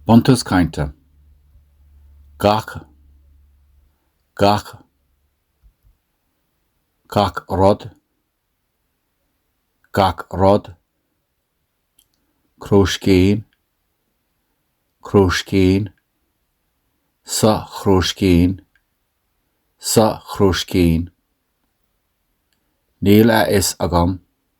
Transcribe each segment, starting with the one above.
Buntús Cainte Gach Gach Gach Rud Gach Rud Crúiscín Crúiscín Sa chrúiscín Sa chrúiscín Níl a fhios agam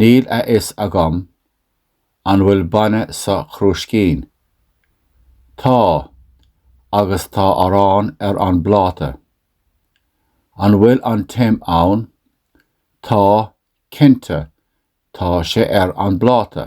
Níl a fhios agam an bhfuil bainne sa chrúiscín. Tá, agus tá arán ar an bpláta. An bhfuil an t-im ann? Tá, cinnte, tá sé ar an bpláta.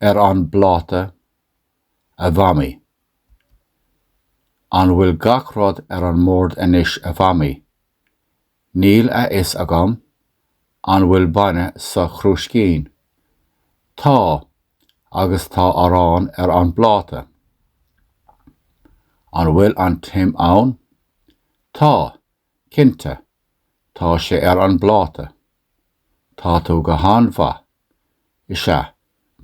ar an bpláta, a Mhamaí. An bhfuil gach rud ar an mbord anois a Mhamaí? Níl a fhios agam, an bhfuil bainne sa chrúiscín? Tá, agus tá arán ar an bpláta. An bhfuil an t-im ann? Tá, Cinnte, tá sé ar an bpláta. Tá tú go han-mhaith. Is ea,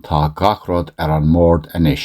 tá gach rud ar an mbord anois.